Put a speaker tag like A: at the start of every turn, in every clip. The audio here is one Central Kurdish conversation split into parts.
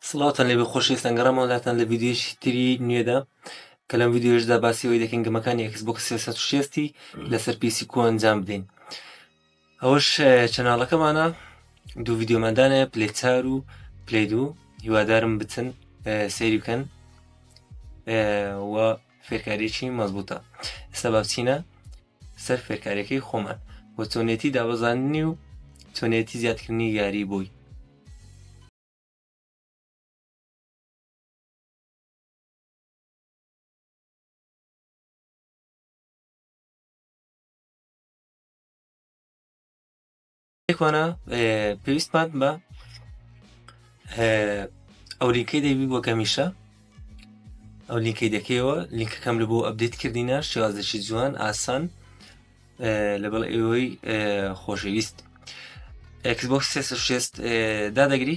A: سڵاوتان لێبێ خۆشەویستان گەڕامەوە لاتان لە ڤیدیۆیەکی تری نوێدا کە لەم ڤیدیۆشدا باسی ئەوەی دەکەین گەمەکانی ئەکس بۆکس 360 لەسەر پیسی کو ئەنجام بدەین ئەوەش چەناڵەکەمانە دوو ڤیددیۆماندانە پلی چار و پلی دوو هیوادارم بچن سەیری بکەن و فێرکاریی مەزبوطە ئێستا بابچینە سەر فێرکاریەکەی خۆمان و چۆنێتی دابەزاندنی و چۆنێتی زیادکردنی یاری بووی ئێکوانە پێویستمان بە ئەو لینکەی دەبی بۆ گەمیشە ئەو لینکەی دەکەیەوە لینکەکەم لە بۆ ئەبدیت کردینە شێوازێکی جوان ئاسان لەگەڵ ئێوەی خۆشەویست ئەکسبۆکس 360 دادەگری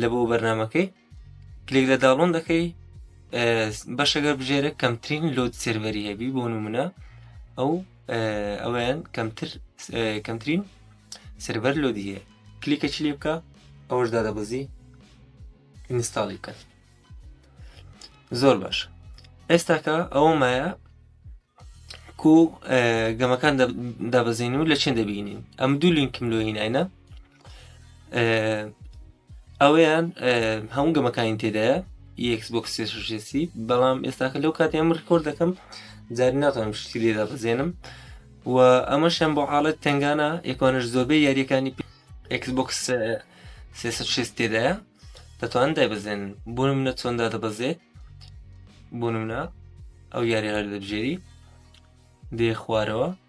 A: لە بۆ بەرنمەکەی کلێک لە داڵۆن دەکەی بەشەگەر بژێرە کەمترین لۆت سێرڤەری هەبی بۆ نمونە ئەو ئەویان کەمتر کەمترین سربەر لۆ دیە کلیکە چ لێ بکە ئەوەش دادەبەزی ئینستاڵی بکەن زۆر باش ئێستاکە ئەوە مایە کو گەمەکان دابەزین و لە چێن دەبینین ئەم دوو لینکم لۆ هینایە ئەوەیان هەموو گەمەکانی تێدایە یەکس بۆ کسێشێسی بەڵام ئێستاکە لەو کاتی ئەم ڕکۆر دەکەم جاری ناتوانم شتی لێدا بزێنم و ئەمە شەم بۆ حاڵەت تنگانە یەکوانش زۆربەی یاریەکانی ئەکس بکس سێ تێدایە دەتوان دایبزێن بوون منە چۆندا دەبەزێ بوون منە ئەو یاری هەر دەبژێری دێ خوارەوە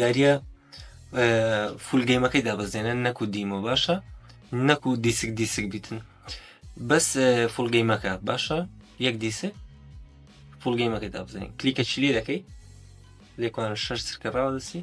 A: یاریە فول گەیمەکەی دابەزێنە نەکو دیمە باشە نەکو دیسک دیسک بیتن بەس فول گەیمەکە باشە یەک دیسک فول گەیمەکەی دابزین کلیکە چلی دەکەی لێکوان شەر سرکە ڕاوەدەسی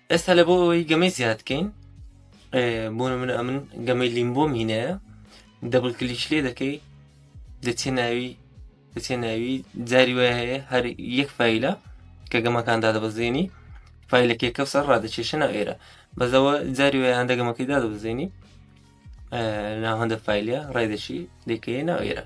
A: ئێستا لە بۆ ئەوەی گەمەی زیاد بکەین بۆ نمونە ئەمن گەمەی لیمبۆ مینەیە دەبل کلیش لێ دەکەی دەچێ ناوی دەچێ ناوی جاری وای هەیە هەر یەک فیلە کە گەمەکان دادەبەزێنی فیلەکەی کەسە ڕادەچێشە ناو ئێرە بەزەوە جاری وای هەندە گەمەکەی دادەبزێنی ناو هەندە فیلە ڕێدەشی دەکەی ناو ئێرە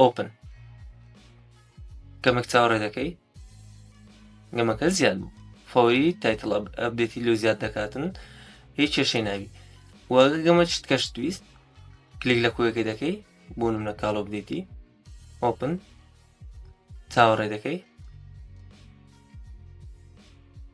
A: ئۆپن گەمەک چاوەڕێ دەکەی گەمەکە زیاد بوو فۆری تایتل ئەبدێتی لۆ زیاد دەکاتن هیچ کێشەی ناوی وەگە گەمە چت کەش تویست کلیک لە کوێەکەی دەکەی بۆ منە کاڵۆ بدێتی ئۆپن چاوەڕێ دەکەی